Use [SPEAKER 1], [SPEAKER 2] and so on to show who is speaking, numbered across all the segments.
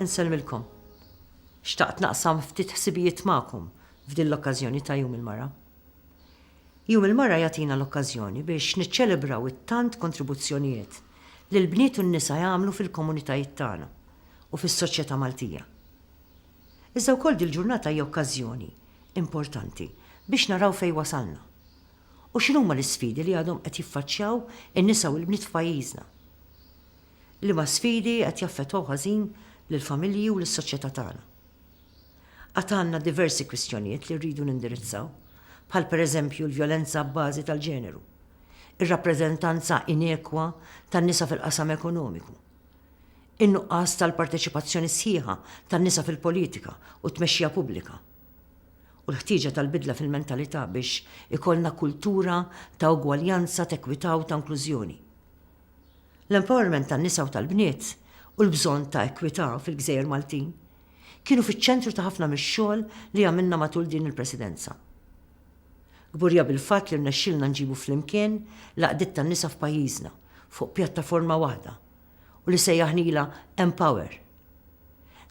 [SPEAKER 1] Insellmilkom. Xtaqt naqsam ftit ħsibijiet magħkom f'din l-okkażjoni ta' Jum il-Mara. Jum il-Mara jagħtina l-okkażjoni biex niċċelebraw it-tant kontribuzzjonijiet li l-bniet u n-nisa jagħmlu fil-komunitajiet tagħna u fis-soċjetà Maltija. Iżda wkoll dil-ġurnata hija okkażjoni importanti biex naraw fejn wasalna u x'inhuma l-isfidi li għadhom qed jiffaċċjaw in-nisa u l-bniet f'pajjiżna. Liema sfidi qed jaffettwaw ħażin lill-familji u lis-soċjetà tagħna? Għad għandna diversi kwistjonijiet li rridu nindirizzaw, bħal pereżempju l-vjolenza abbażi tal-ġeneru, ir-rappreżentanza inekwa tan-nisa fil-qasam ekonomiku, in-nuqqas tal-parteċipazzjoni sħiħa tan-nisa fil-politika u t-tmexxija pubblika, u l-ħtieġa tal-bidla fil-mentalità biex ikollna kultura ta' ugwaljanza, t'ekwità u ta' inklużjoni. L-empowerment tan-nisa u tal-bniet u l-bżonn ta' ekwità fil-gżejjer Maltin kienu fiċ-ċentru ta' ħafna mix-xogħol li għamilna matul din il-Presidenza. Kburija bil-fatt li rnexxielna nġibu flimkien l-għaqdiet tan-nisa f'pajjiżna fuq pjattaforma waħda u li sejjaħnilha Empower.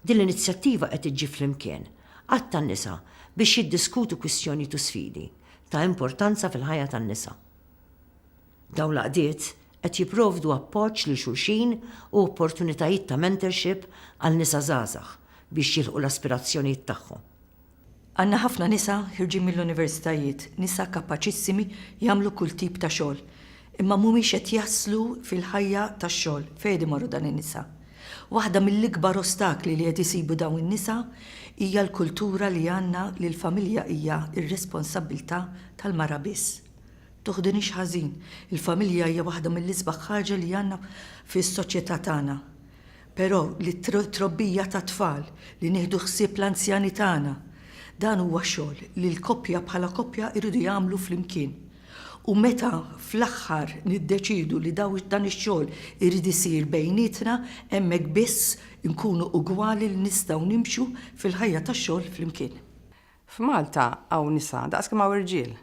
[SPEAKER 1] Din l-inizjattiva qed iġġib flimkien għadd ta' nisa biex jiddiskutu kwistjonijiet u sfidi ta' importanza fil-ħajja tan-nisa. Dawn l-għaqdiet qed jipprovdu appoġġ lil xulxin u opportunitajiet ta' mentorship għal nisa żgħażagħ biex jilħqu l-aspirazzjonijiet tagħhom. Għandna ħafna nisa ħirġin mill-universitajiet, nisa kapaċissimi jagħmlu kull tip ta' xogħol, imma mhumiex qed jaslu fil-ħajja tax-xogħol. Fejn qed imorru dan in-nisa? Waħda mill-ikbar ostakli li qed isibu dawn in-nisa hija l-kultura li għandna li l-familja hija r-responsabbiltà tal-mara biss. Tuħdinix ħażin, il-familja hija waħda mill-isbaħ ħaġa li għandna fis-soċjetà tagħna. Però li t-trobbija tat-tfal, li nieħdu ħsieb l-anzjani tagħna, dan huwa xogħol li l-koppja bħala koppja jridu jagħmlu flimkien. U meta fl-aħħar niddeċiedu li dan ix-xogħol irid isir bejnietna, hemmhekk biss inkunu ugwali li nistgħu nimxu fil-ħajja tax-xogħol flimkien. F'Malta hawn nisa daqs kemm hawn irġiel.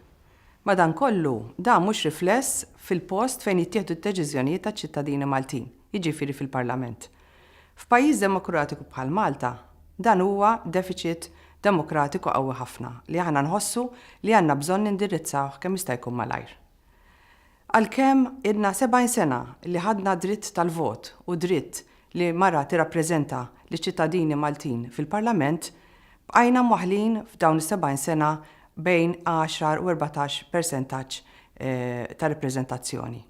[SPEAKER 1] Madankollu, dan mhux rifless fil-post fejn jittieħdu d-deċiżjonijiet taċ-ċittadini Maltin, jiġifieri fil-Parlament. F'pajjiż demokratiku bħal Malta, dan huwa defiċit demokratiku qawwi ħafna li aħna nħossu li għandna bżonn nindirizzawh kemm jista' jkun malajr. Għalkemm ilna 70 sena li ħadna d-dritt tal-vot u d-dritt li mara tirrappreżenta liċ-ċittadini Maltin fil-Parlament, bqajna mwaħħlin f'dawn is-70 sena bejn għaxar u erbatax persentaġġ ta' rappreżentazzjoni.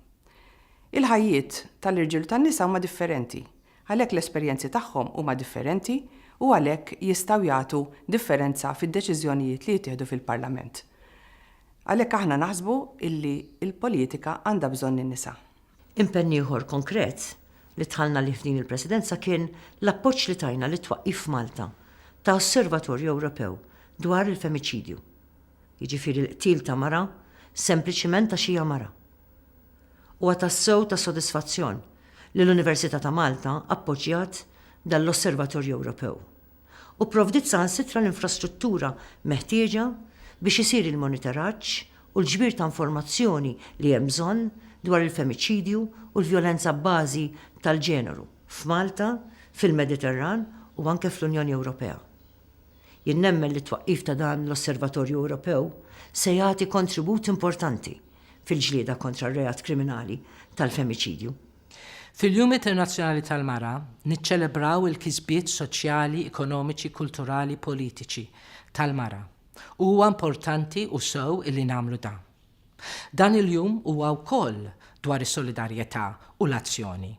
[SPEAKER 1] Il-ħajjiet tal-irġiel u tan-nisa huma differenti. Għalhekk l-esperjenzi tagħhom huma differenti u għalhekk jistgħu jagħtu differenza fid-deċiżjonijiet li jittieħdu fil-Parlament. Għalhekk aħna naħsbu illi l-politika għandha bżonn in-nisa. Impenn ieħor konkret li dħalna għalih f'din il-Presidenza kien l-appoġġ li tajna lit-twaqqif f'Malta ta' Osservatorju Ewropew dwar il-Femiċidju, jiġifieri l-qtil ta' mara sempliċiment għax hija mara. Huwa tassew ta' sodisfazzjon li l-Università ta' Malta appoġġjat dan l-Osservatorju Ewropew u pprovdiet saħansitra l-infrastruttura meħtieġa biex isir il-monitoraġġ u l-ġbir ta' informazzjoni li hemm bżonn dwar il-femiċidju u l-vjolenza abbażi tal-ġeneru f'Malta, fil-Mediterran u anke fl-Unjoni Ewropea. Jien nemmen li t-twaqqif ta' dan l-Osservatorju Ewropew se jagħti kontribut importanti fil-ġlieda kontra r-reat kriminali tal-femiċidju. Fil-Jum Internazzjonali tal-Mara niċċelebraw il-kisbiet soċjali, ekonomiċi, kulturali, politiċi tal-mara u huwa importanti u sew illi nagħmlu dan. Dan il-jum huwa wkoll dwar is-solidarjetà u l-azzjoni.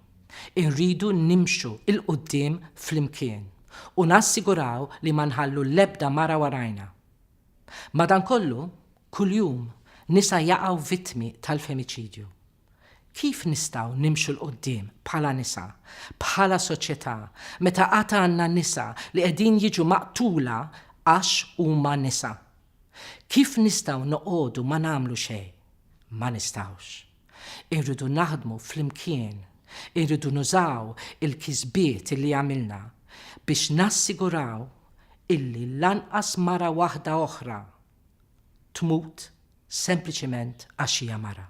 [SPEAKER 1] Irridu nimxu 'l quddiem flimkien u nassiguraw li ma nħallu l-ebda mara warajna. Madankollu, kuljum nisa jaqgħu vittmi tal-femiċidju. Kif nistgħu nimxu 'l quddiem bħala nisa, bħala soċjetà, meta għad għandna nisa li qegħdin jiġu maqtula għax huma nisa? Kif nistgħu noqogħdu ma nagħmlu xejn? Ma nistgħux. Irridu naħdmu flimkien, irridu nużaw il-kisbiet illi għamilna biex nassiguraw illi lanqas mara waħda oħra tmut sempliċement għax hija mara.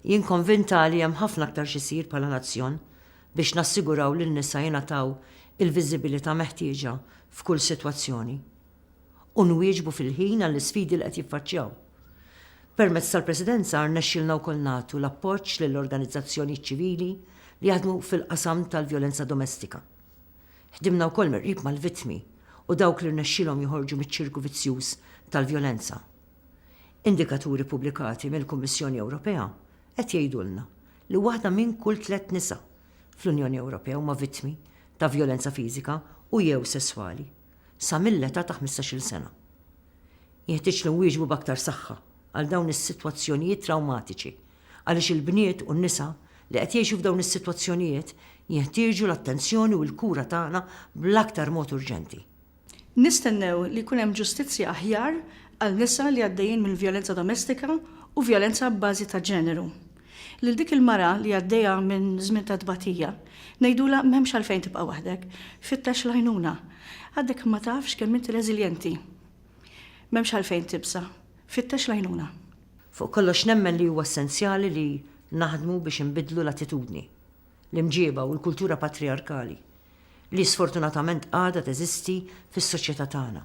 [SPEAKER 1] Jien konvinta li hemm ħafna aktar x'isir bħala nazzjon biex nassiguraw li n-nisa jingħataw il-viżibilità meħtieġa f'kull sitwazzjoni. u nwieġbu fil-ħin għall-isfidi li qed jiffaċċjaw. Permezz tal-Presidenza rnexxielna wkoll nagħtu l-appoġġ lill-organizzazzjonijiet ċivili li jaħdmu fil-qasam tal-vjolenza domestika. Ħdimna wkoll mill-qrib mal-vittmi u dawk li rnexxielhom joħorġu miċ-ċirku vizzjuż tal-vjolenza. Indikaturi ppubblikati mill-Kummissjoni Ewropea qed jgħidulna li waħda minn kull tliet nisa fl-Unjoni Ewropea huma vittmi ta' vjolenza fiżika u jew sesswali. sa mill-età ta' ħmistax-il sena. Jenħtieġ li nwieġbu b'aktar saħħa għal dawn is-sitwazzjonijiet trawmatiċi għaliex il-bniet u n-nisa li qed jgħixu f'dawn is-sitwazzjonijiet jenħtieġu l-attenzjoni u l-kura tagħna bl-aktar mod urġenti. Nistennew li jkun hemm ġustizzja aħjar għal nisa li għaddejjin minn vjolenza domestika u vjolenza abbażi ta' ġeneru. Lil dik il-mara li għaddejja minn żmien ta' tbatija, ngħidulha m'hemmx għalfejn tibqa' waħdek, fittex l-għajnuna. Għadek ma tafx kemm inti reżiljenti. M'hemmx għalfejn tibża', fittex l-għajnuna. Fuq kollox nemmen li huwa essenzjali li naħdmu biex inbiddlu l-attitudni, l-imġieba u l-kultura patrijarkali li sfortunatament għadha teżisti fis-soċjetà tagħna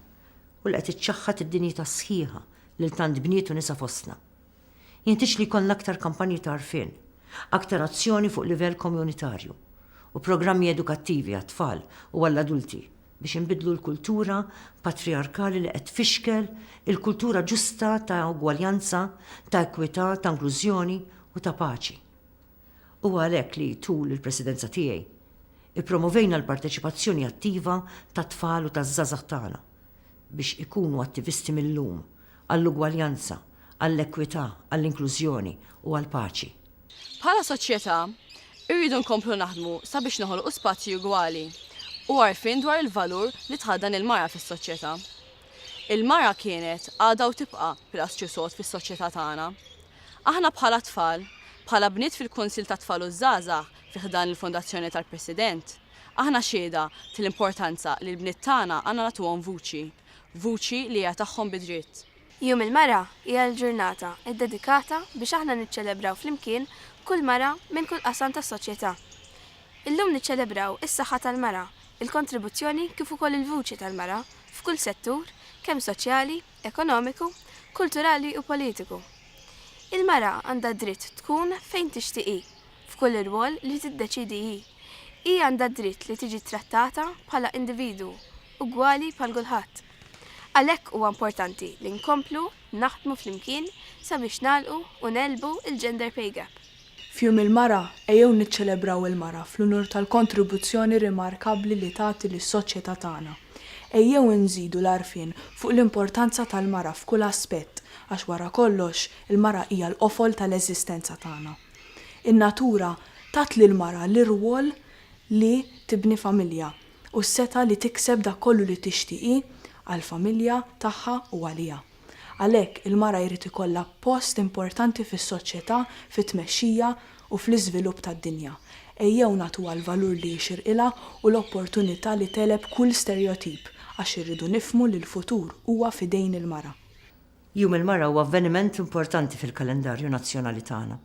[SPEAKER 1] u li qed iċċaħħad id-dinjità sħiħa lil tant bniet u nisa fostna. Jenħtieġ li jkollna aktar kampanji ta' għarfien, aktar azzjoni fuq livell Komjunitarju, u programmi edukattivi għat-tfal u għall-adulti biex inbiddlu l-kultura patrijarkali li qed tfixkel il-kultura ġusta ta' ugwaljanza, ta' ekwità, ta' inklużjoni u ta' paċi. Huwa għalhekk li, tul il-Presidenza tiegħi, ippromovejna l-parteċipazzjoni attiva tat-tfal u taż-żgħażagħ tagħna biex ikunu attivisti mil-lum, għall-ugwaljanza, għall-ekwità, għall-inklużjoni u għall-paċi. Bħala soċjetà, irridu nkomplu naħdmu sabiex noħolqu spazji ugwali u għarfien dwar il-valur li tħaddan il-mara fis-soċjetà. Il-mara kienet, għadha u tibqa' pilastru sod fis-soċjetà tagħna. Aħna bħala tfal, bħala bniet fil-Kunsill tat-Tfal u ż-Żgħażagħ fi ħdan il-Fondazzjoni tal-President, aħna xhieda tal-importanza li l-bniet tagħna għandna nagħtuhom vuċi. Vuċi li hija tagħhom bi dritt. Jum il-Mara hija l-ġurnata ddedikata biex aħna niċċelebraw flimkien kull mara minn kull qasam tas-soċjetà. Illum niċċelebraw is-saħħa tal-mara, il-kontribuzzjoni kif ukoll il-vuċi tal-mara f'kull settur kemm soċjali, ekonomiku, kulturali u politiku. Il-mara għandha d-dritt tkun fejn tixtieq hi, f'kull irwol li tiddeċiedi hi. Hi għandha d-dritt li tiġi ttrattata bħala individwu ugwali bħal kulħadd. Għalhekk huwa importanti li nkomplu naħdmu flimkien sabiex nagħlqu u negħlbu l-gender pay gap. F'Jum il-Mara, ejjew niċċelebraw il-mara fl-unur tal-kontribuzzjoni rimarkabbli li tagħti lis-soċjetà tagħna. Ejjew inżidu l-għarfien fuq l-importanza tal-mara f'kull aspett għax wara kollox il-mara hija l-qofol tal-eżistenza tagħna. In-natura tat lill-mara l-irwol li tibni familja, u s-setgħa li tikseb dak kollu li tixtieq hi għall-familja tagħha u għaliha. Għalhekk, il-mara jrid ikollha post importanti fis-soċjetà, fit-tmexxija u fl-iżvilupp tad-dinja. Ejjew nagħtuha l-valur li jixirqilha u l-opportunità li tegħleb kull sterjotip, għax irridu nifhmu li l-futur huwa f'idejn il-mara. Jum il-Mara huwa avveniment importanti fil-kalendarju nazzjonali tagħna.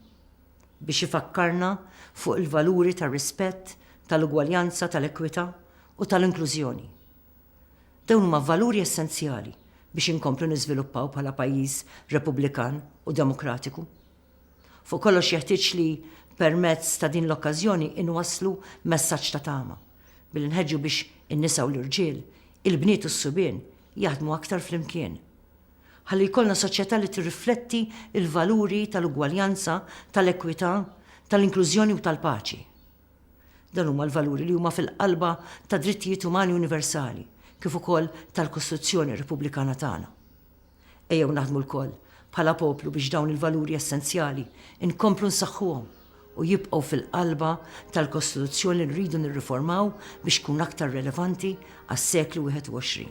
[SPEAKER 1] biex ifakkarna fuq il-valuri tar-rispett, tal-ugwaljanza, tal-ekwità u tal-inklużjoni. Dawn huma valuri essenzjali biex inkomplu niżviluppaw bħala pajjiż Repubblikan u demokratiku. Fuq kollox jeħtieġ li permezz ta' din l-okkażjoni inwasslu messaġġ ta' tama, billi nħeġġu biex in-nisa u l-irġiel, il-bniet u s-subien jaħdmu aktar flimkien. Ħalli jkollna soċjetà li tirrifletti l-valuri tal-ugwaljanza, tal-ekwità, tal-inklużjoni u tal-paċi. Dan huma l-valuri li huma fil-qalba tad-drittijiet umani universali kif ukoll tal-Kostituzzjoni Repubblikana tagħna. Ejjew naħdmu lkoll bħala poplu biex dawn il-valuri essenzjali nkomplu nsaħħuhom. u jibqgħu fil-qalba tal-Kostituzzjoni li rridu nirriformaw biex tkun aktar relevanti għas-seklu 21.